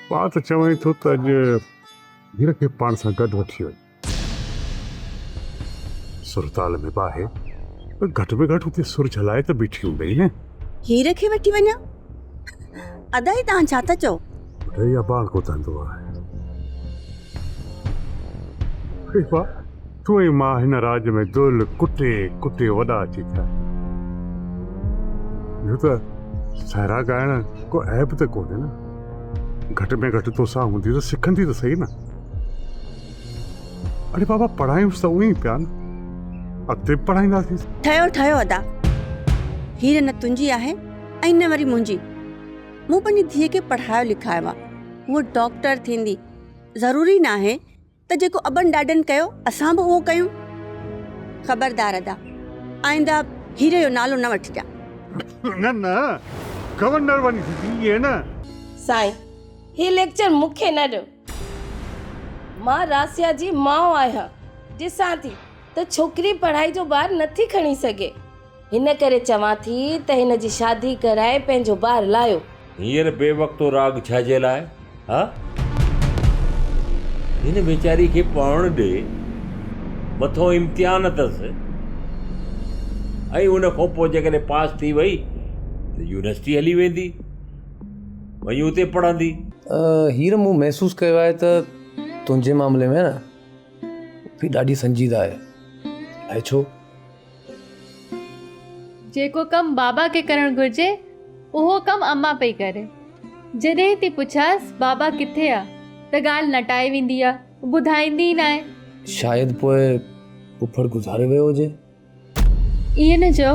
پاڻ ته چوين ٿو ته اڄ ڌيء کي پاڻ سان گڏ وٺي وڃ. سرتال ۾ به آهي پر گهٽ ۾ گهٽ اتي سر جهلائي ته بيٺي هوندئي نه. هير کي وٺي وڃان؟ ادا هي توهان ڇا ٿا چئو؟ بڌئي ابا ڪو ڌنڌو آهي. تو ئي مان هن راڄ ۾ دل ڪٽي ڪٽي وڏا ٿي ٿيا آهيون. ٻيو ته سهرا ڳائڻ ڪو عيب ته ڪونهي نه. گهٽ ۾ گهٽ توسان هوندي ته سکندي ته سهي نه. اڙي بابا پڙهايونس ته اوهين پيا نه. اڳتي به پڙهائينداسين. ٺهيو ٺهيو ادا. هير نه تنهنجي آهي ۽ نه وري منهنجي. مون پنهنجي ڌيء کي پڙهايو لکايو آهي. هوء ڊاڪٽر ٿيندي. ضروري ناهي. ته جيڪو ابن ڏاڏن ڪيو اسان به اهو ڪيون. خبردار ادا آئنده هيري جو نالو نه وٺجان. نه نه گورنر وڃي سڏجي نه. سائين هي ليڪچر مون کي نه ڏيو مان راسيا جي ماء آهيان ڏسان ٿي ته ڇوڪري پڙهائي جو بار نٿي کڻي سگهي. هن ڪري چوان ٿي ته هن جي شادي ڪرائي پنهنجو بار لاهيو. هينئر بي وقتو راڳ ڇا جي لاء ها؟ هن ويچاري کي پڙهڻ ڏي، مٿو امتحان اٿس ۽ ان کان پوء جيڪڏهن پاس ٿي وئي ته يونيورسٽي هلي ويندي، وڃي اتي پڙهندي. هينئر مون محسوس ڪيو آهي ته تنهنجي معاملي ۾ نه، پڦي ڏاڍي سنجيده آهي. اهي ڇو؟ جيڪو ڪم بابا کي ڪرڻ گهرجي، اهو ڪم امان پئي ڪري. جڏهن ٿي پڇانس بابا ڪٿي آ؟ ته ڳالهه نٽائي ويندي آ، ٻڌائيندي ئي ناهي. شايد پوء ڦڦڙ گذاري ويو هجي. ائين نه چئو.